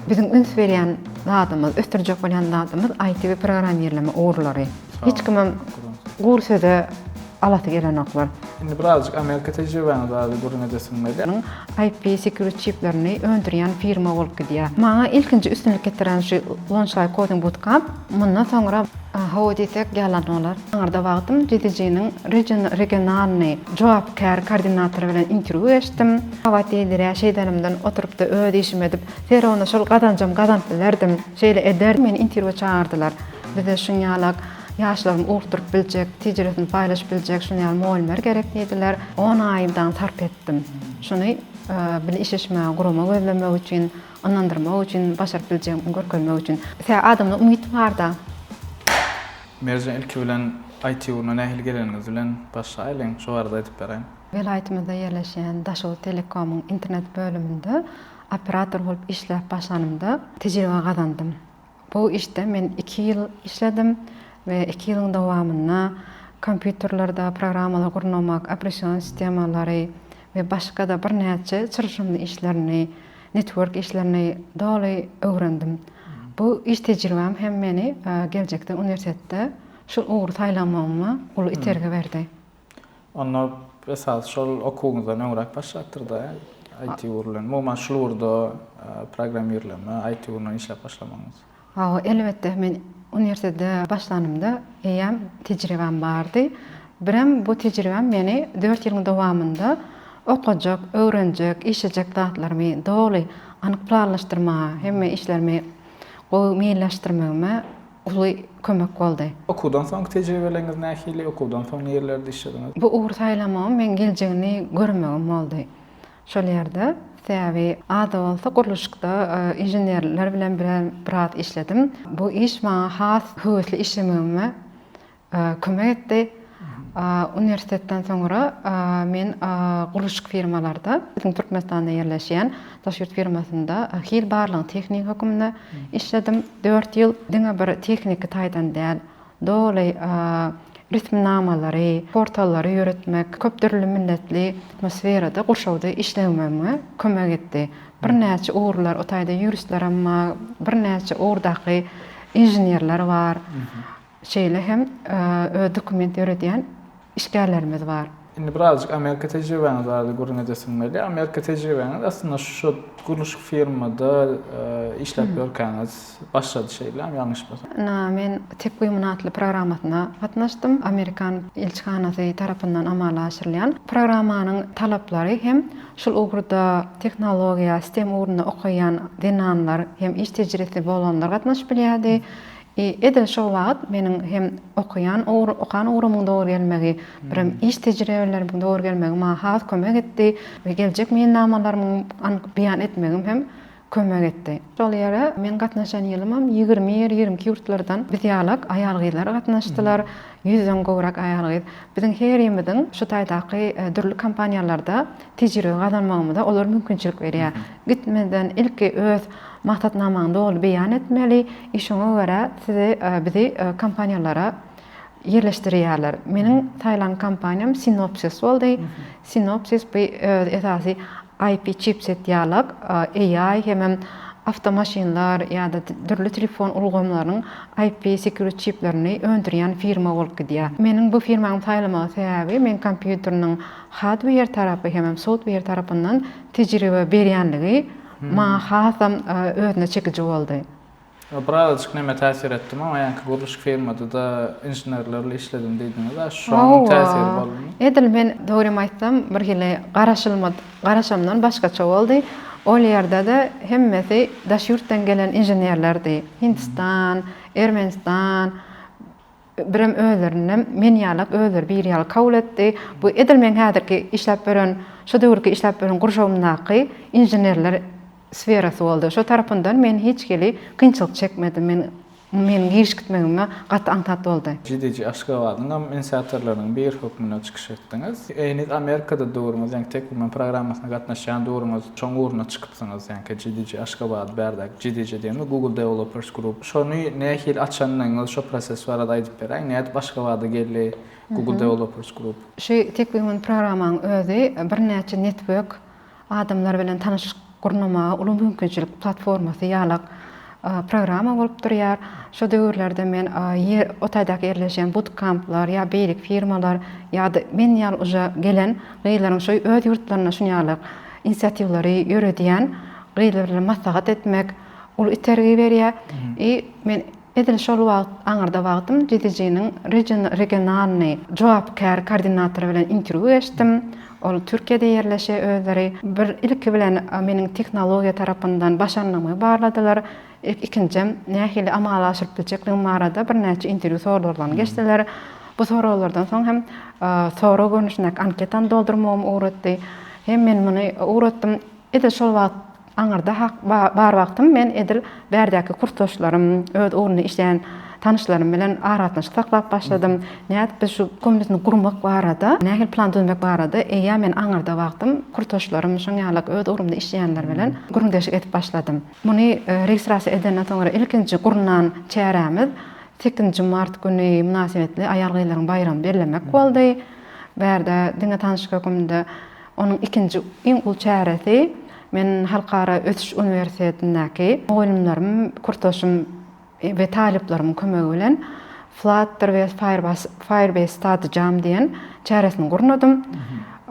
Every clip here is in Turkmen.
Biziň üns berýän zadymyz, ösdürjek bolýan zadymyz IT we programmirleme ugurlary. Hiç kimem gury söze alasy gelenoklar. Indi birazjyk Amerika tejribäňiz barada gürrüň edesiň weli? Nuň IP security çiplerini öndürýän firma bolup gidýär. Maňa ilkinji üstünlik getiren şu Launchlive Coding Bootcamp. Mundan soňra hawa diýsek ýalan bolar. Aňyrda wagtym Cidijiniň regionalnyý jogapkär koordinatory bilen interwýu geçdim. Hawa diýilirä şeýdänimden oturypda öz işimi edip, Fergana şol gazanjam gazanyp bilerdim. Şeýle ederdim. Meni interwýu çagyrdylar. Bize şuň ýalak ýaşlaryň ugurtdyryp biljek, tejiribesini paýlaşyp biljek şuny ýaly mugallymlar gerek diýdiler. On aýym daňy sarp etdim. Şuny bile işleşmäge gurama gözlemek üçin. Ynandyrmak üçin, başaryp biljegiňi görkezmek üçin. Sebäbi adamda umyt barda. Merjen ilki bilen IT ugruna nähili geleniňiz bilen başlaýlyň, şo barada aýdyp beräýiň. Welaýatymyzda ýerleşýän Daşoguz Telekomyň internet bölüminde operator bolup işläp başlanymda tejribe gazandym. Bu işde men iki ýyl işledim we iki ýylyň dowamynda kompýuterlerde programmalary gurnamak, operation sistemalary we başga-da birnäçe çylşyrymly işlerini, network işlerini doly öwrendim. Bu iş tejribäm hem meni geljekde uniwersitetde şu ugry saýlamagyma uly itergi berdi. Onda esasy şol okuwyňyzdan öňräk başlapdyr-da, IT ugur bilen. Umuman şul ugurda programmirleme, IT ugrundan işläp başlamagyňyz? Hawa, elbetde, men uniwersitete başlanymda eýýäm tejribäm bardy. Birem bu tejribäm meni dört ýylyň dowamynda okajak, öwrenjek, işlejek zatlarymy doly anyk planlaşdyrmaga, hemme işlerimi gowy meýilleşdirmegime uly kömek boldy. Okuwdan soňky tejribeleriňiz nähili? Okuwdan soň nirelerde işlediňiz? Bu ugry saýlamagym meň geljegini görmegim boldy şol ýerde. Sebäbi az-da bolsa gurluşykda inženerler bilen biraz işledim. Bu iş maňa has höwesli işlemegime kömek etdi. Uniwersitetden soňra men gurluşyk firmalarda, biziň Türkmenistanda ýerleşýän daş ýurt firmasynda hil barlagyň tehnigi hökmünde işledim. Dört ýyl diňe bir tehniki taýdan däl, doly resminamalary, portallary ýöretmek, köp dürli milletli atmosferada, gurşawda işlemegime kömek etdi. Birnäçe ugurlar, o taýda ýuristlerem bar, birnäçe ugurdaky inženerler bar. Şeýle hem öz dokument ýöredýän işgärlerimiz bar. Indi birazjyk Amerika tejribäňiz barada gürrüň edesiň weli, Amerika tejribäňiz aslynda şu gurluşyk firmada işläp ýörkäňiz başlady şeýlämi, ýalňyşmasam? Ynha, men Tekwimun atly programmasyna gatnaşdym. Amerikan ilçihanasy tarapyndan amala aşyrylýan. Programmanyň talaplary hem şul ugurda tehnologiýa, stem ugrunda okaýan zenanlar hem iş tejribesi bolanlar gatnaşyp bilýärdi. I, edil şol wagyt meniň hem okaýan ugr, okan ugrumyň dogry gelmegi, birem iş tejribelerimiň dogry gelmegi maňa has kömek etdi we geljek meýilnamalarymyň anyk beýan etmegim hem kömek etdi. Şol ýere meň gatnaşan ýylymam ýigrimi ýer, ýigrimi iki ýurtlardan biz ýalak aýal-gyzlar gatnaşdylar, ýüzden gowrak aýal-gyz. Biziň herimiziň şu taýdaky dürli kompaniýalarda tejribe gazanmagymyza olar mümkinçilik berýär. Gitmeden ilki öz maksatnamaňy doly beýan etmeli, i şoňa görä sizi, bizi kompaniýalara ýerleşdirýärler. Meniň saýlan kompaniýam Synopsys boldy. Synopsys bu öz esasy IP çipset dialog, AI hemem awtomaşynlar ýa-da dürli telefon ulgamlarynyň IP security çiplerini öndürýän firma bolup gidýär. Meniň bu firmany saýlamagyň sebäbi, men kompýuteriniň hardweýer tarapy hemem softweýer tarapyndan tejribe berýänligi maňa hasam özüne çekiji boldy. Birazajyk näme täsir etdimi, oňa ýaňky gurluşyk firmada-da inženerlerle işledim diýdiňiz-ä, şonuň täsiri boldumy? Edil men, dogrymy aýtsam, birhili garaşylmadyk, garaşymdan başgaça boldy. Ol ýerde-de hemmesi daş ýurtdan gelen inženerlerdi. Hindistan, Ermenistan, Birem özlerinde men ýalak özleri bir ýaly kabul etdi. Bu edil meň häzirki işläp ýören, şu döwürki işläp ýören gurşawymdaky inženerler sferasy boldy. Şo tarapyndan men hiç hili kynçylyk çekmedim. Men meniň giriş gitmegime gaty aňsat boldy. GDG Aşgabadyň am inisiatorlarynyň biri hökmünde çykyş etdiňiz. Heniz Amerikada döwrüňiz, ýaňky Tekwoman programmasyna gatnaşýan döwrüňiz şoň ugruna çykypsyňyz. Ýaňky GDG Aşgabady bärde GDG diýenimiz Google Developers Group. Şony nähili açandygyňyzy şo proses barada aýdyp beräýiň. Nädip Aşgabada geldi Google Developers Group? Şu tek bir gün programmaň özi birnäçe network, adamlar bilen tanyşlyk gurnamaga uly mümkinçilik platformasy ýalak programma bolup durýar. Şo döwürlerde men ýer o taýdaky ýerleşýän butkamplar ýa beýleki firmalar ýa-da men ýaly uja gelen gyzlaryň şo öz ýurtlarynda şun ýalak inisiatiwlary ýöredýän gyzlar bilen maslahat etmek, uly itergi berýär. I men edil şol wagt aňyrda wagtym GDG-niň regionalnyý jogapkär koordinatory bilen interwýu geçdim. Ol Türkiýede ýerleşýär özleri. Bir ilki bilen meniň tehnologiýa tarapyndan başarnygymy barladylar. Ikinjem nähili amala aşyryp biljekligim barada birnäçe interwýu soraglaryny geçdiler. Bu soraglardan soň hem sorag görnüşindäki anketany doldurmagym ugratdy. Hem men muny ugratdym. Edil şol wagt Aňyrda hak bar wagtym men edil bärdäki kursdaşlarym, öz ugrunda işleýän tanyşlarym bilen aragatnaşyk saklap başladym. Nädip biz şu kombinatny gurmak barada, nähili plan düzmek barada eýýäm men aňyrda wagtym kursdaşlarym, şoň ýaly öz ugrumda işleýänler bilen gürrüňdeşlik edip başladym. Muny registrasiýa edenden soňra ilkinji gurnan çärämiz sekizinji mart güni mynasybetli aýal-gyzlaryň baýramy bellemek boldy. Bärde diňe tanyşlyk höküminde Onuň ikinji iň uly çäresi, men Halkara ösüş uniwersitetindäki mugallymlarym, kursdaşym we talyplarymyň kömegi bilen Flutter we Firebase Study Jam diýen çäresini gurnadym.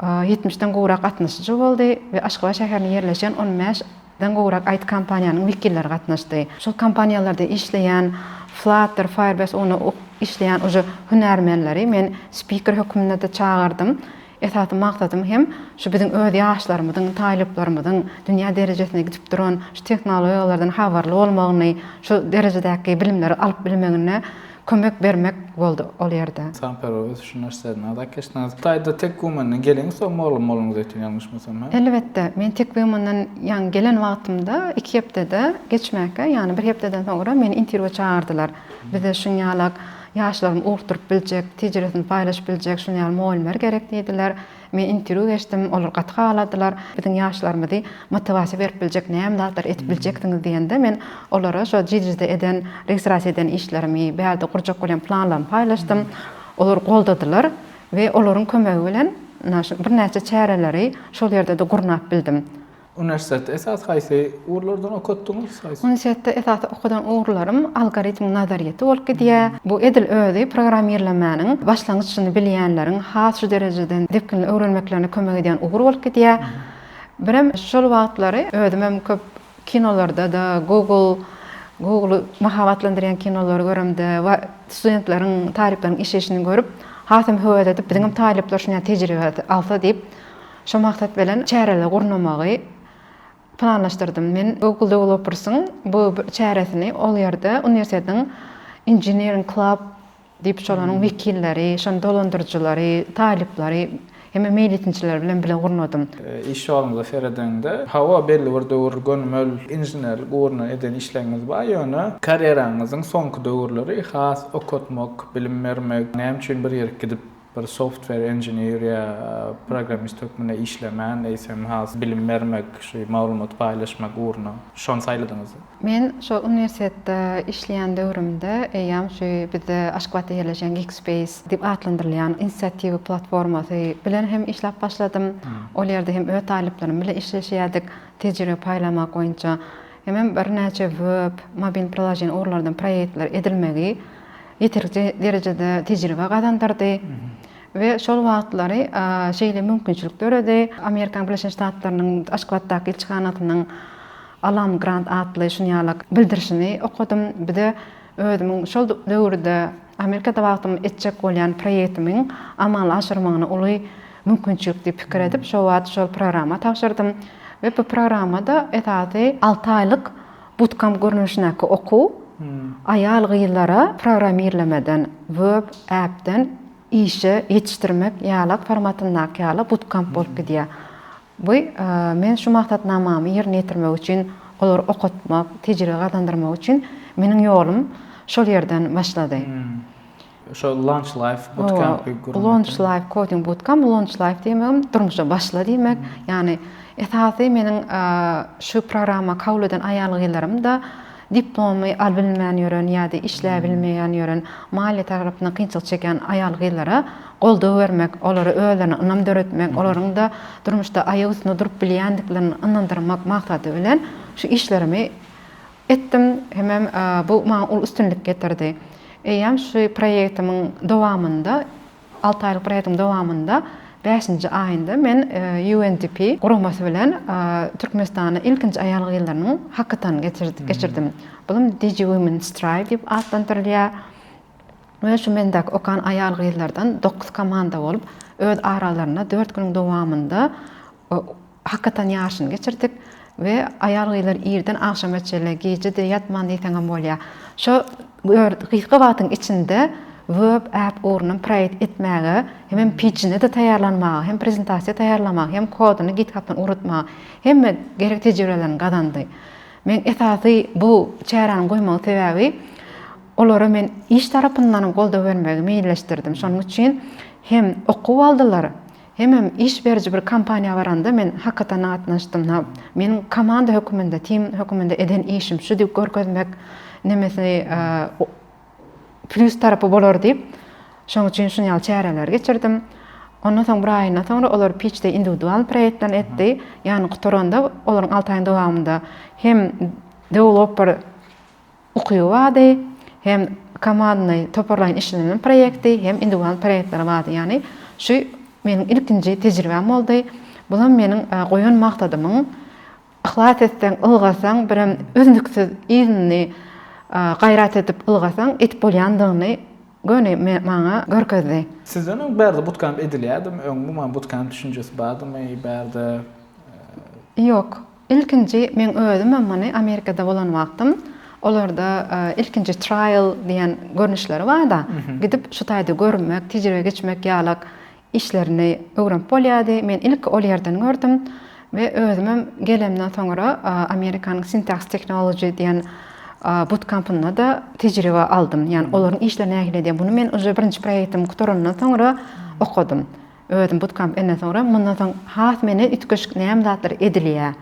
Ýetmişden gowrak gatnaşyjy boldy we Aşgabat şäherinde ýerleşen on bäş den gowrak it kompaniýanyň wekilleri gatnaşdy. Şol kompaniýalarda işleýän Flutter, Firebase ugrunda işleýän uje hünärmenleri men spiker hökmünde-de çagardym. Esasy maksadym hem şu biziň öz ýaşlarymyzyň, taýlyplarymyzyň dünýä derejesine gidip duran şu tehnologiýalardan habarly bolmagyny, şu derejedäki bilimleri alyp bilmegine kömek bermek boldy ol ýerde. Ynsanperwer ösüş uniwersitetinden azat geçdiňiz. Hytaýda TekWomen-den geliňiz, soň mugallym bolduňyz diýipdim, ýalňyşmasam, hä? Elbetde, men TekWomen-den ýaňy gelen wagtymda iki hepdede geçmäkä, ýagny bir hepdeden soňra meni interwýua çagyrdylar. Bize şuň ýalak. Ýaşlaryň okduryp biljek, tejribesini paýlaşyp biljek şuny ýaly mugallymlar gerek diýdiler. Men interwýu geçdim, olar gaty haladylar. Biziň ýaşlarymyzy motiwasiýa berip biljek näme zatlar edip biljeksiňiz diýende men olara şo JIDRIZ-de eden, registrasiýa eden işlerimi, bärde gurjak bolýan planlarymy paýlaşdym. Olar goldadylar we olaryň kömegi bilen birnäçe çäreleri şol ýerde-de gurnap bildim. Uniwersitetde esasy haýsy ugurlardan okatdyňyz? Uniwersitetde esasy okadan ugurlarym algoritmiň nazaryýeti bolup gidýär. Bu edil özi programmirlemäniň başlangyçyny bilýänleriň has şu derejeden depginli öwrenmeklerine kömek edýän ugur bolup gidýär. Birem şol wagtlary özümem köp kinolarda-da, Google, Google-y mahabatlandyrýan kinolary göremde we studentleriň, talyplaryň işeýşini görüp, hasam höwes edip, biziňem talyplar şuny ýaly tejribe alsa diýip, Şo maksat bilen çäreleri gurnamagy planlaşdyrdym. Men Google Developers'yň bu çäresini ol ýerde uniwersitetiň Engineering Club diýip şolaryň wekilleri, şonuň dolandyryjylary, talyplary hem-de meýletinçiler bilen bile gurnadym. Iş ýoluňyza seredeňde, hawa, belli bir döwür gönümel inženerlik ugruna eden işlegiňiz bar, ýöne karýeraňyzyň soňky döwürleri has okatmak, bilim bermek, näme üçin bir ýere gidip Bir software engineer ýa programmist hökmünde işlemän, eýsem has bilim bermek, şu maglumat paýlaşmak ugruna şony saýladyňyz. Men şol uniwersitetde işleýän döwrümde eýýäm şu bizde Aşgabatda ýerleşen Geekspace diýip atlandyrylýan inisiatiwa platformasy bilen hem işläp başladym. Ol ýerde hem öz talyplarym bilen işleşýärdik, tejribe paýlamak boýunça. Hemem birnäçe web, mobil priloženi ugurlardan proýektler edilmegi ýeterlik derejede tejribe gazandyrdy we şol wagtlary şeýle mümkinçilik döredi. Amerikanyň Birleşen Ştatlarynyň Aşgabatdaky ilçihanasynyň Alan Grant atly şuny ýaly bildirişini okadym. Bize özümiň şol döwürde Amerikada wagtym etjek bolýan proýektimiň amala aşyrmagyny uly mümkinçilik diýip pikir edip, şo wagt şol programma tabşyrdym we bu programmada esasy alty aýlyk Bootcamp görnüşindäki okuw aýal-gyzlara programmirlemeden, web, app-den işe ýetişdirmek ýalak formatyndaky ýaly bootcamp bolup gidýär. Bu men şu maksatnamamy ýerine ýetirmek üçin, olary okatmak, tejribe gazandyrmak üçin meniň ýolum şol ýerden başlady. Şo Launch Life Bootcamp gurmak. Launch Life Coding Bootcamp, Launch Life diýmegim durmuşa başla diýmek. Ýagny esasy meniň şu programma kabul eden aýal-gyzlarym-da diplomy albilmän ýören ýa-da işläbilmeýän ýören, maliýe tarapyndan kynçylyk çekýän aýal-gyzlara goldaw bermek, olara özlerine ynam döretmek, olaryň-da durmuşda aýak üstünde durup bilýändiklerini ynandyrmak maksady bilen şu işlerimi etdim, hemem bu maňa uly üstünlik getirdi. Eýýäm şu proýektimiň dowamynda, alty aýlyk proýektiň dowamynda bäşinji aýynda men UNDP guramasy bilen Türkmenistanda ilkinji aýal-gyzlarynyň hakatonyny geçirdim. Bulam Digi Women Strive diýip atlandyrylýar we şu mendäki okan aýal-gyzlardan dokuz komanda bolup, öz aralarynda dört günüň dowamynda Hakykatan ýaşyny geçirdik we aýal-gyzlar irden agşama çenli, gije-de ýatman diýseňem bolýar. Şo gysga wagtyň içinde web äp ugrundan proýekt etmäge, hemem pitchini-de taýýarlanmaga, hem prezentasiýa taýýarlamaga, hem koduny GitHub-dan ugratmaga hemme gerek tejribelerini gazandy. Men esasy bu çäräniň goýmagyň sebäbi olara men iş tarapyndanam goldaw bermegi meýilleşdirdim. Şonuň üçin hem okuw aldylar, Hemem iş beriji bir kompaniýa baranda men hakykatanda gatnaşdym na meniň komanda höküminde tim höküminde eden işim şu diýip görkezmek nemesi plýus tarapy bolar diýip şoň üçin şun ýaly çäreleri geçirdim ondan soň bir aýyndan soňra olar piçde indiwidual proýektlerini etdi ýagny gutaranda olaryň alty aýyň dowamynda hem dewlopper Ukyby bardy. Hem komandnyý, toparlaýyn işlenilen proýekti, hem indiwidual proýektleri bardy. Ýagny şu meniň ilkinji tejribäm boldy. Bulam meniň goýan maksadymyň yhlas etseň, ylgasaň, birem üznüksiz yzyny gaýrat edip ylgasaň, edip bolýandygyny göni maňa görkezdi. Sizden öň bärde butkemp edilýärdimi? Öň umuman butkemp düşünjesi bardymy bärde? Ýok. Ilkinji men özümem muny Amerikada bolan wagtym olarda ilkinji trial diýen görnüşleri barda gidip şu taýda görmek, tejribe geçmek ýalak işlerini öwrenip bolýardy. Men ilki ol ýerden gördüm we özümem gelemden soňra Amerikanyň Syntax Technology diýen butkampynda-da tejribe aldym. Ýani olaryň işleri nähili diýen. Muny men uje birinji proýektim gutarandan soňra okadym. Özüm bootcamp enden soňra mundan soň has meni üýtgeşik näme zatlar edilýär,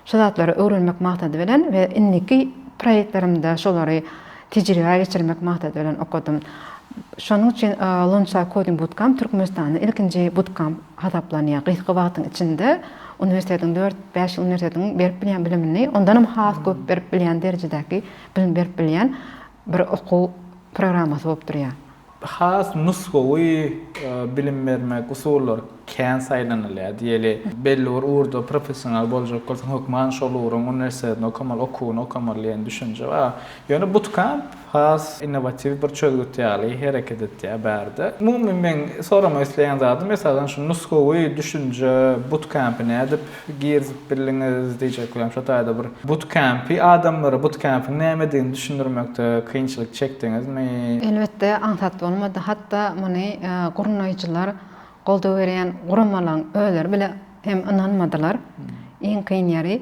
şu zatlary öwrenmek maksady bilen we indiki proýektlerimde şolary tejribä geçirmek maksady bilen okadym. Şonuň üçin Lonsha Coding Bootcamp Türkmenistanda ilkinji bootcamp hasaplanýar. Gysga wagtyň içinde uniwersitetiň dört, bäş ýyl uniwersitetiň berip bilýän bilimini ondanam has köp berip bilýän derejedäki bilim berip bilýän bir okuw programmasy bolup durýar. Has nusgawy bilim bermek usullary kän saýlanylýar. Diýeli, belli bir ugurda professional boljak bolsaň, hökman şol ugruň uniwersitetini okamaly, okuwyny okamaly diýen düşünje bar. Ýöne Bootcamp has innowatiw bir çözgüt ýaly hereket etýär bärde. Umumy meň soramak isleýän zadym, esasan şu nusgawy düşünje Bootcamp-i nädip Girizip bildiňiz diýjek welin şo taýda bir butkempi adamlara butkempiň nämedigini düşündirmekde kynçylyk çekdiňizmi? Elbetde aňsat bolmady. Hatda muny gurnaýjylar, goldaw berýän guramalaryň özleri bile hem ynanmadylar. Iň kyn ýeri.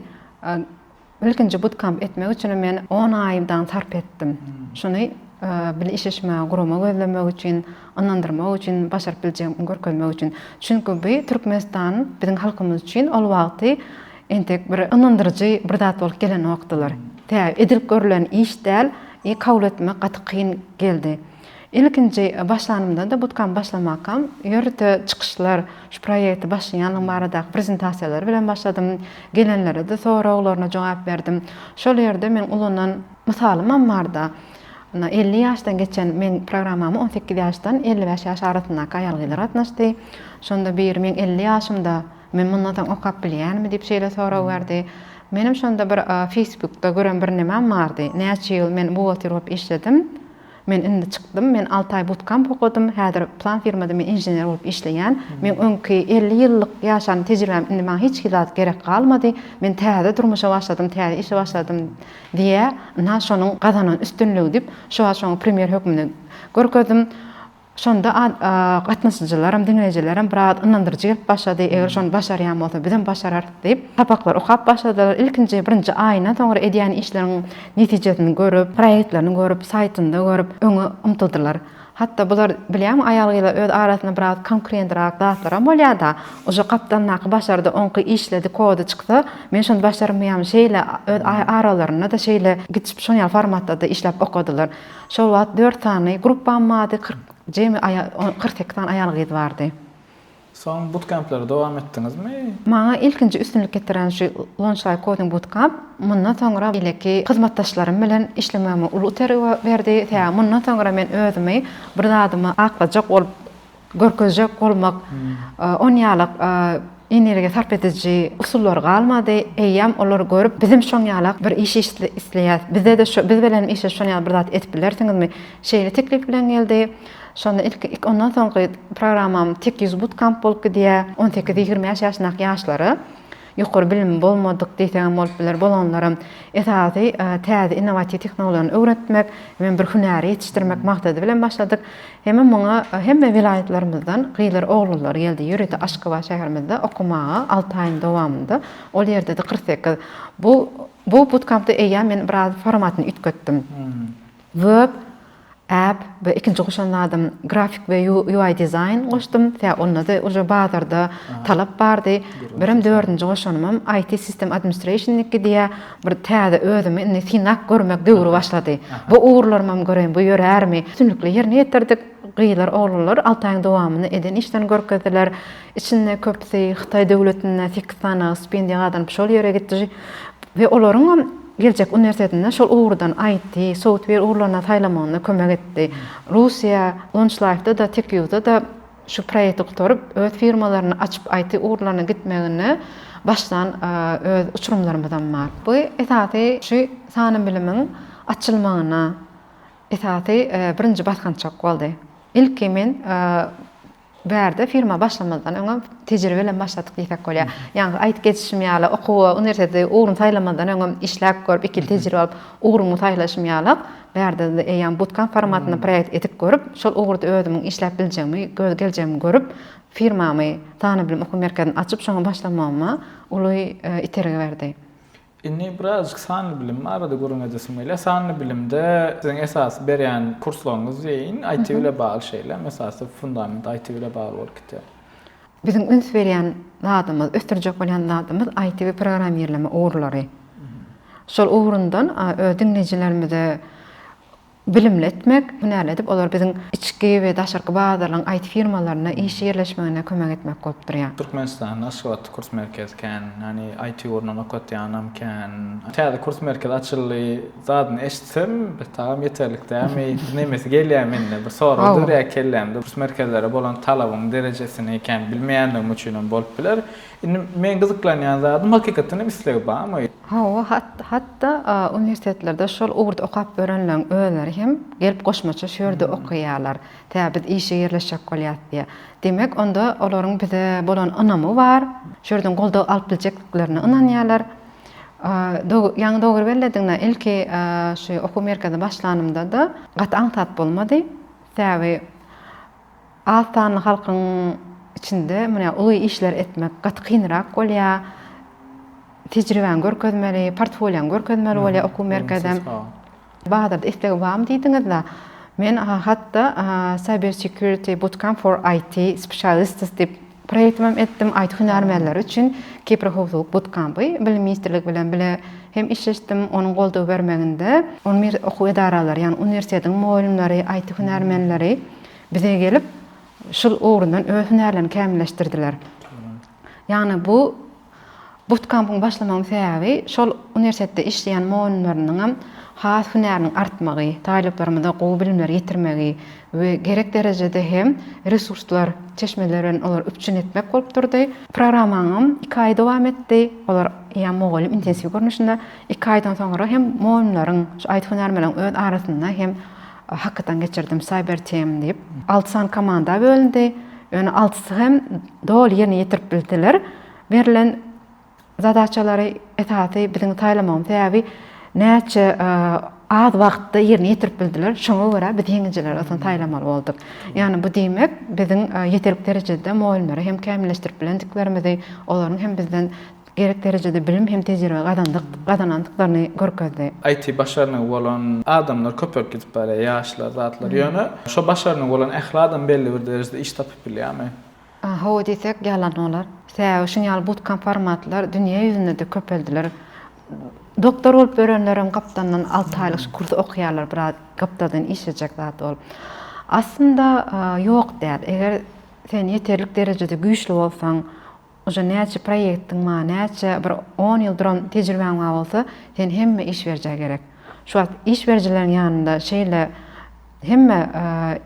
Ilkinji butkamp etmek üçin men on aýdan sarp etdim. Şuny bile işleşmäge gurama gözlemek üçin, ynandyrmak üçin, başaryp biljegimi görkezmek üçin. Çünki bu Türkmenistan biziň halkymyz üçin ol wagty entek bir ynandyryjy bir zat bolup gelenokdylar. Tä edilip görlen iş däl, kabul etmek gaty kyn geldi. Ilkinji başlanymda-da, butkam başlamakam, ýörite çykyşlar, şu proýekti başlaýanlygym baradaky prezentasiýalar bilen başladym. Gelenlere-de soraglaryna jogap berdim. Şol ýerde meň ulanan mysalymam bar-da, Ynha, elli ýaşdan geçen, meň programmama on sekiz ýaşdan elli bäş ýaş arasyndaky aýal-gyzlar gatnaşdy. Şonda biri meň elli ýaşymda, men mundan soň okap bilýänmi diýip şeýle sorag berdi. Menem şonda bir feýsbukda gören birnemem bardy, näçe ýyl men buhgalter bolup işledim, Men indi çykdym, men alty aý butkemp okadym, häzir plan firmada men inžener bolup işleýän. Meň öňki elli ýyllyk ýaşan tejribäm indi maňa hiç zat gerek galmady. Men täze durmuşa başladym, täze işe başladym diýýär. Ynha şonuň gazanan üstünligi diýip, şu wagt şoňa premýer hökmünde görkezdim. Şonda gatnaşyjylaram, diňleýjilerem biraz ynandyryjy gelip başlady, eger şony başarýan bolsa, bizem başararys diýip, sapaklary okap başladylar. Ilkinji birinji aýyndan soňra edýän işleriň netijesini görüp, proýektlerini görüp, saýtynda görüp, öňe ymtyldylar. Hatda bular, bilýäňmi, aýal-gyzlar öz arasynda biraz konkurentrak zatlaram bolýar-da, uje gapdalyndaky başardy, oňky işledi, kody çyksa, men şony başarmaýarmyn, şeýle öz aralarynda-da şeýle gitişip, şoňýaly formatda-da işläp okadylar. Şol wagt dört sany gruppam bardy, kyrk, jemi kyrk sekiz sany aýal-gyz bardy. Soň butkempleri dowam etdiňizmi? Maňa ilkinji üstünlik getiren şu Launchlight Coding Bootcamp mundan soňra beýleki hyzmatdaşlarym bilen işlemegime uly itergi berdi, sebäbi mundan soňra men özümi bir zadyma aklajak bolup görkezjek bolmak on ýalak energiýa sarp ediji usullary galmady, eýýäm olar görüp, bizem şoň ýalak bir iş isleýäs, bize-de şu, biz bilenem işleşip şoň ýaly bir zat edip bilersiňizmi? Şeýle teklip bilen geldi. Şonda ilki, ondan soňky programmam Tek ýüz butkamp bolup gidýär, on sekiz-ýigrimi bäş ýaşyndaky ýaşlara. ýokary bilimi bolmadyk diýseňem bolup biler, bolanlaram esasy täze innowatiw tehnologiýany öwretmek, hemem bir hünäri ýetişdirmek maksady bilen başladyk. Hemem muňa hemme welaýatlarymyzdan gyzlar, oglanlar geldi. Ýörite Aşgabat şäherimizde okamaga alty aýyň dowamynda ol ýerde-de kyrk sekiz. Bu bu butkampda eýýäm men biraz formatyny üýtgetdim. Web. App we ikinji goşan zadym grafik we UI dizaýn goşdum. Sebäbi onda-da uje bazarda talap bardy. Birem dördünji goşanymam IT System Administration-niki diýýär. Bir täze özümi indi synap görmek döwri başlady. Bu ugurlarymam göreýin bu ýörärmi? Üstünlikli ýerine ýetirdik. Gyzlar, oglanlar alty aýyň dowamynda eden işlerini görkezdiler. Içinde köpüsi Hytaý döwletinde sekiz sanaga stipendiýa gazanyp şol ýere gitdi we olaryňam Geljek uniwersitetinde şol ugurdan IT, software ugurlaryna saýlamagyna kömek etdi. Russiýa, Launchlife-da-da, TechYou-da-da şu proýekti gutaryp, öz firmalaryny açyp IT ugurlaryna gitmegini başlan öz uçurymlarymyzam bar. Bu esasy şu sanly bilimiň açylmagyna esasy birinji basgançak boldy. Ilki men Bärde firma başlamazdan öňem tejribe bilen başladyk diýsek bolýar. Ýaňky aýdyp geçişim ýaly, okuwa, uniwersiteti ugruny saýlamazdan öňem işläp görüp, iki ýyl tejribe alyp, ugruňy saýlaşym ýaly, bärde eýýäm bootcamp formatynda proýekt edip görüp, şol ugurda özümiň işläp biljegimi, göz geljegimi görüp, firmamy, Sanybilim okuw merkezini açyp, şoňa başlamagyma uly itergi berdi. Indi birazajyk sanly bilim barada gürrüň edesim gelýär. Sanly bilimde siziň esasy berýän kurslaryňyz diýeýin, IT bile bagly şeýle, esasy fundament IT bile bagly bolup gidýär. Biziň üns berýän zadymyz, ösdürjek bolýan zadymyz IT we programmirleme ugurlary. Şol ugrundan öz diňleýjilerimize bilimli etmek, hünärli edip, olar biziň içki we daşarky bazarlaryň IT firmalaryna işe ýerleşmegine kömek etmek bolup durýar. Türkmenistanda Aşgabatda kurs merkezi kän, ýagny IT ugrundan okatýanam kän. Täze kurs merkezi açyldy zadyny eşitsem, betagam ýeterlik dälmi, nemesi gelýär mende, bir sorag dörýär kellämde. Kurs merkezlere bolan talabyň derejesini kän bilmeýänligim üçinem bolup biler. Indi meň gyzyklanýan zadym hakykatdanam islegi barmy? Hawa, hat-hatda uniwersitetlerde şol ugurda okap ýörenleriň özleri hem gelip goşmaça şu ýerde okaýarlar. Tä biz işe ýerleşjek bolýas diýe. Demek, onda olaryň bize bolan ynamy bar. Şu ýerden goldaw alyp biljekdiklerine ynanýarlar. Ýaňy dogry bellediňda, ilki şu okuw merkezine başlanymda-da gaty aňsat bolmady. Sebäbi Az sanly halkyň içinde munä uly işler etmek gaty kynrak bolýar. Tejribäňi görkezmeli, portfoliýaňy görkezmeli bolýar okuw merkezem. Bazarda istegi barmy diýdiňiz-de, men hat-da Cyber Security Bootcamp for IT Specialists diýip, Proýektimem etdim, aýt hünärmenleri üçin Kiberhowpsuzlyk butkampy Bilim ministrligi bilen bile hem işleşdim, onuň goldaw bermeginde ylmy okuw edaralary, ýagny uniwersitetiň mugallymlary, aýty hünärmenleri bize gelip, şul ugrundan öz hünärlerini kämilleşdirdiler. Ýagny bu Butkampyň başlamagyň sebäbi şol uniwersitetde işleýän mugallymlarynyňam has hünäriniň artmagy, talyplarymyza gowy bilimleri ýetirmegi we gerek derejede hem resurslar, çeşmeler bilen olary üpjün etmek bolup durdy. Programmaňam iki aý dowam etdi. Olar ýa mugallym intensiw görnüşinde, iki aýdan soňra hem mugallymlaryň, şu aýdyp hünärmenleriň öz arasynda hem Hakytan geçirdim Cyber Team diýip. Alty sany komanda bölündi. Ýöne altysy hem doly ýerine ýetirip bildiler. Berlen zadaçalary esasy biziň saýlamagymyz sebäbi näçe az wagtda ýerine ýetirip bildiler. Şoňa görä biz ýeňijileri aslynda saýlamaly bolduk. Ýagny bu diýmek biziň ýeterlik derejede mugallymlary hem kämilleşdirip bilendiklerimizi, olaryň hem bizden Gerek derejede bilim hem tejribe gazandyk, gazanandyklaryny görkezdi. IT başarnygy bolan adamlar köpelip gidip barýar, ýaşlar, zatlar. Ýöne şo başarnygy bolan ähli adam belli bir derejede iş tapyp bilýärmi? Hawa diýsek ýalan bolar. Sebäbi şuň ýaly bootcamp formatlar dünýä ýüzünde-de köpeldiler. Doktor bolup ýörenlerem gapdandan alty aýlyk şu kursy okaýarlar, biraz gapdadan işlejek zat ol. Aslynda ýok däl. Eger sen ýeterlik derejede güýçli bolsaň, Uje näçe proýektiň bar näçe bir on ýyl duran tejribäň bar bolsa sen hemme iş berijä gerek şu wagt iş berijileriň ýanynda şeýle hemme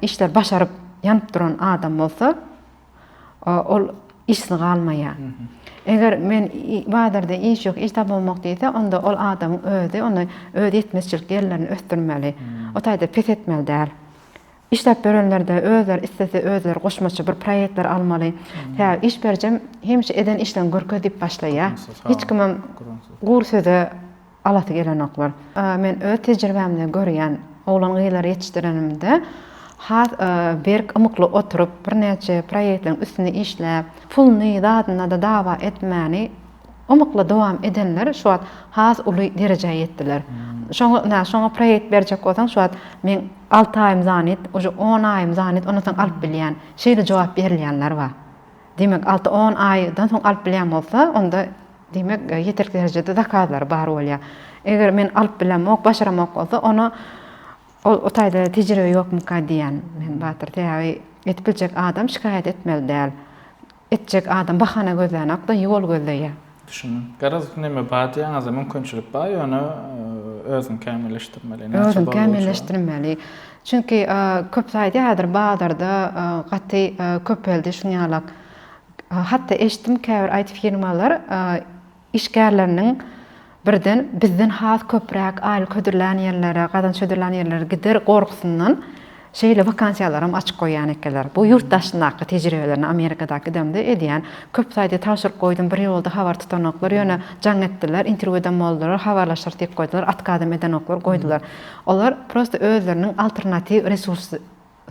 işleri başaryp ýanyp duran adam bolsa ol işsiz galmaýa eger men bazarda iş ýok iş tapamok diýse onda ol adamyň özi onda öz ýetmezçilik ýerlerini ösdürmeli o taýda pes etmeli däl Işläp berenlerde özleri islese özleri goşmaça bir proýektler almaly. Sebäbi iş berijem hemişe eden işleň görkez diýip başlaýar. Hiç kimem gury söze alasy gelenoklar. Men öz tejribämden görýän oglan gyzlary ýetişdirenimde has berk ymykly oturyp birnäçe proýektleriň üstünde işläp puluny zadynada dawa etmäni Ymykly dowam edenler şu wagt has uly derejä ýetdiler. Şoňa ynha şoňa proýekt berjek bolsaň şu wagt men alty aýym zanit, uje on aýym zanit ondan soň alyp bilýän. Şeýle jogap berilýänler bar. Diýmek alty on aýdan soň alyp bilýän bolsa onda diýmek ýeterlik derejede zakazlary bar bolýar. Eger men alyp bilemok, başaramok bolsa ony Ol o taýda tejribe ýokmyka diýýän men Batyr. Sebäbi edip biljek adam şikaýat etmeli däl. Etjek adam bahana gözlänok-da, ýol gözleýär. Düşündim. Garaz, näme bar diýýäňiz-de, mümkinçilik bar, ýöne özüňi kämilleşdirmeli. Näçe bolsa Özüňi kämilleşdirmeli. Çünki köpüsi aýdýardyr, bazarda gaty köpeldi şuňňalak. Hatda eşitdim, käbir IT-firmalar işgärleriniň birden bizden has köpräk aýlyk hödürlän ýerlere, gazanç hödürlän ýerlere gider gorgusyndan şeýle wakansiýalaram açyk goýýan ekenler. Bu ýurt daşyndaky tejribelerini Amerikada gidemde edýän köp saýty tabşyryk goýdum, bir ýolda habar tutanoklar, ýöne jaň etdiler, interwýu edem boldular, habarlaşarys diýip goýdular, otkazam edenoklar, goýdular. Olar prosta özleriniň alternatiw resurs.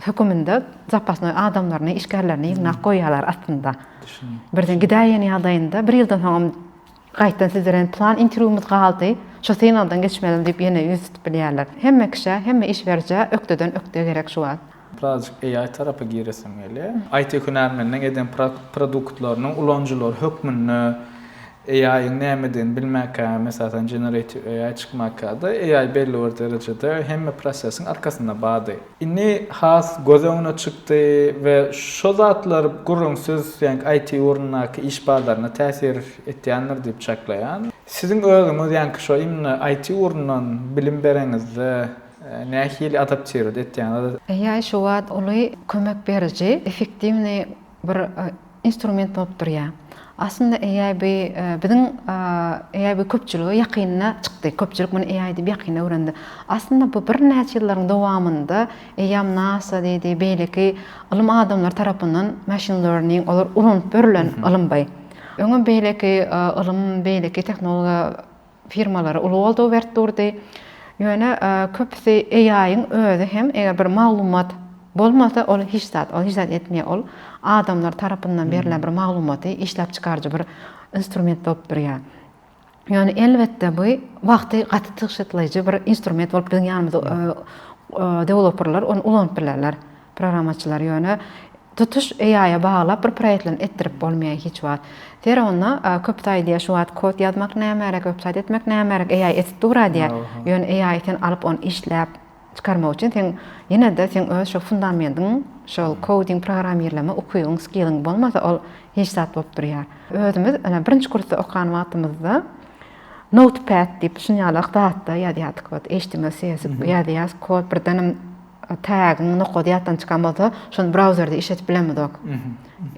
höküminde zapasnoý adamlaryny, işgärlerini ýygnap goýýarlar aslynda. Birden gidäýen ýagdaýynda bir ýyldan soňam gaýtdan siz bilen plan interwýumyz galdy, şu synagdan geçmeliň diýip ýene ýüz tutup bilýärler. Hemme kişä, hemme iş berijä ökdeden ökde gerek şu wagt. Birazajyk AI tarapa giresim gelýär. IT hünärmeniniň eden produktlarynyň ulanyjylar hökmünde AI-yň nämedigini bilmäkägem esasan generative AI çykmakada AI belli bir derejede hemme prosesiň arkasynda bardy. Indi has göz öňüne çykdy we şo zatlar gürrüňsiz ýaňky IT ugrundaky iş bazaryna täsir etýändir diýip çaklaýan. Siziň özüňiz ýaňky şo imni IT ugrundan bilim bereňizde nähili adaptirować etýäňiz? AI şu wagt uly kömek beriji, effektiwnyý. bir instrument bolup durýar. Aslynda AI bu biziň AI bu köpçülige ýakynda çykdy. Köpçülik muny AI diýip ýakynda öwrendi. Aslynda bu birnäçe ýyllaryň dowamynda eýýäm NASA diýdi, beýleki ylym adamlary tarapyndan machine learning olar ulanyp ýörlen ylym by. Öňem beýleki ylym, beýleki tehnologiýa firmalary uly goldaw berip durdy. Ýöne köpüsi AI-yň özi hem eger bir maglumat bolmasa ol hiç zat, ol hiç zat etmeýär, ol adamlar tarapyndan berlen bir maglumaty işläp çykaryjy bir instrument bolup durýar. Ýöne elbetde bu wagty gaty tygşytlaýjy bir instrument bolup biziň ýanymyza dewloperler ony ulanyp bilerler. Programmaçylar ýöne tutuş AI-a baglap bir proýektlerini etdirip bolmaýar hiç wagt. Ser onda köp saýy diýýär şu wagt kod ýazmak nämerek, websaýt etmek nämerek, AI edip dura diýýär. Ýöne AI-y sen alyp ony işläp çykarmak üçin seň ýene-de seň öz şo fundamendiň, şol koding programmirleme ukybyň, skilliň bolmasa ol hiç zat bolup durýar. Özümiz ene birinji kursda okan wagtymyzda Notepad diýip şunýalak zatda ýazýardyk, ot html, css ýazýas kod birdenem Tagiň nokady ýatdan çykan bolsa, şony brauzerde işledip bilemizok.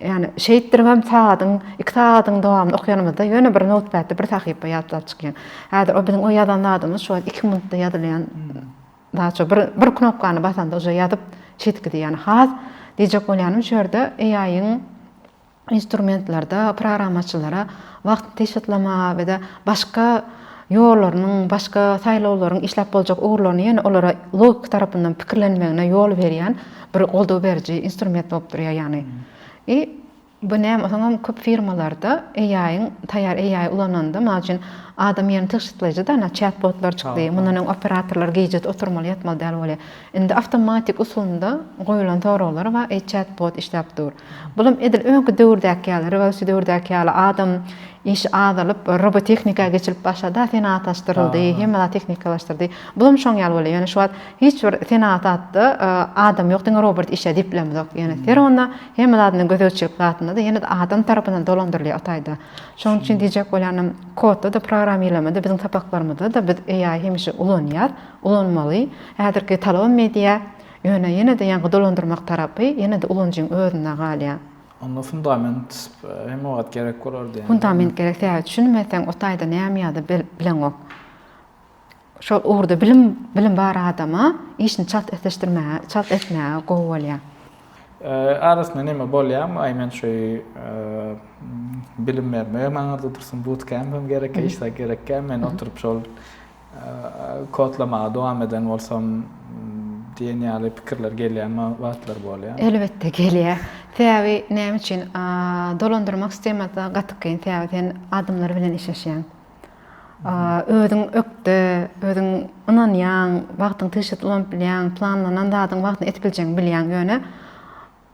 Ýani şeýtdirip hem sagadyň, iki sagadyň dowamynda okýanymyzda ýöne bir noutpadda bir sahypa ýatlap çykýar. Häzir o biziň o ýazan zadymyz şu wagt iki minutda ýazylýan zat şu bir bir knopkany basanda uje ýazyp çytgidi ýani has diýjek bolýanym şu ýerde AI-yň instrumentlerde programmaçylara wagty tygşytlamaga we-de başga ýollarynyň, başga saýlawlaryň işläp boljak ugurlaryny ýene olara logiki tarapyndan pikirlenmegine ýol berýän bir goldaw beriji instrument bolup durýar ýagny. I bu näme osaňam köp firmalarda AI-yň, taýýar AI ulananda, mysal üçin, adam ýerini tygşytlaýjy-da, ana, çat-botlar çykdy, mundan öň operatorlar gije oturmaly, ýatmaly däl bolýar. Indi awtomatik usulynda goýulan soraglar we e-chat bot işläp dur. Bulam edil öňki döwürdäki ýaly, rewolýusiýa döwürdäki ýaly adam işi azalyp, robotehnika geçilip başlady-a, senagatlaşdyryldy, hemme zat tehnikalaşdyrdy. Bulam şoň ýaly bolýar. Ýöne şu wagt hiç bir senagatda adam ýok, diňe robot işlär diýip bilemizok. Ýöne her onda hemme zadynda gözegçilik zatynda-da ýene-de adam tarapyndan dolandyrylýar o taýda. Şonuň üçin diýjek bolýanym, kodda-da, programmirlemede biziň sapaklarymyzda-da biz AI hemişe ulanýar. Ulanmagy häzirki talaba media, ýöne ýene-de ýaňky dolandyrmak tarapy ýene-de ulanyjyň özünde galýar. Onda fundament hem wagt gerek bolar diýýäňizmi? Fundament gerek sebäbi düşünmeseň o taýda näme ýa-da bileňok. Şol ugurda bilim bilim bar adama işini çalt esleşdirmäge, çalt etmäge gowy bolýar. Arasynda näme bolýarmy? Aý men şeý bilim bermegem aňyrda dursun, bootcamp hem gerekkä, iş zat gerekkä, men oturyp şol Kodlamaga dowam eden bolsam diýen ýaly pikirler gelýän wagtlar bolýar. Elbetde gelýär. Sebäbi näme üçin? Dolandyrmak sistemasyna gaty kyn. Sebäbi sen adamlar bilen işleşýäň. Özüň ökde, özüň ynanýaň, wagtyňy tygşytly ulanyp bilýäň, planlanan zadyňy wagtynda edip biljegini bilýäň. Ýöne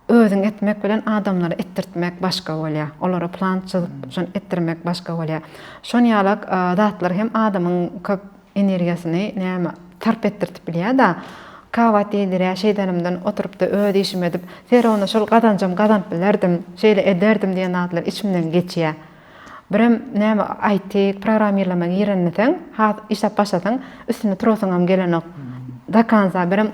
Özüň etmek bilen adamlara etdirtmek başga bolýar. Olara plan çyzyp, şony etdirmek başga bolýar. Şon ýalak zatlar hem adamyň köp energiýasyny näme sarp etdirtip bilýär-da. Kabat ýediräý şeýdanymdan oturypda öz işimi edip, Serawna şol gazanjam gazanyp bilerdim, şeýle ederdim diýen zatlar içimden geçýär. Birem näme IT programmirleme girenmiseň has işläp başlasaň üstünde turasyňam gelenok do konca birem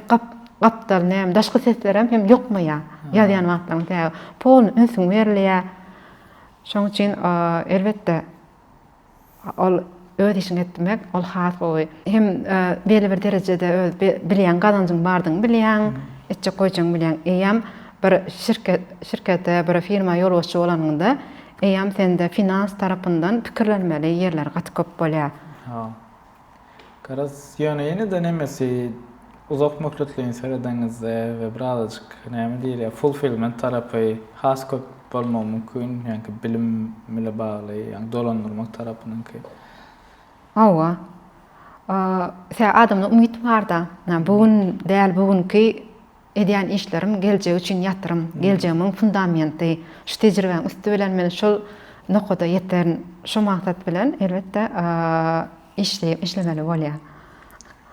gapdal näme daşky seslerem hem ýokmaýar ýazýan wagtlaň sebäbi polny ünsüň berilýär şoň üçin elbetde ol Öz işiňi etmek, ol has gowy. Hem belli bir derejede öz bilýäň, gazanjyň bardygyny bilýäň, etjek goýjagyňy bilýäň. Eýýäm bir şirkete, bir firma ýolbaşçy bolanyňda, eýýäm sende finans tarapyndan pikirlenmeli ýerler gaty köp bolýar. Garaz, ýöne ýene-de nemesi, Uzak möhletleýin seredenizde we birazajyk näme diýilýär, fulfillment tarapy has köp bolmagy mümkin, ýaňky bilim bile bagly, ýaňky dolandyrmak tarapynyňky. Hawa. Sebäbi adamda umyt barda. Bu gün däl bu günki edýän işlerim geljek üçin ýatyrym, geljegimiň fundamenti. Şu tejribäň üsti bilen men şol nokada ýeterin. Şo maksat bilen elbetde işlemeli bolýar.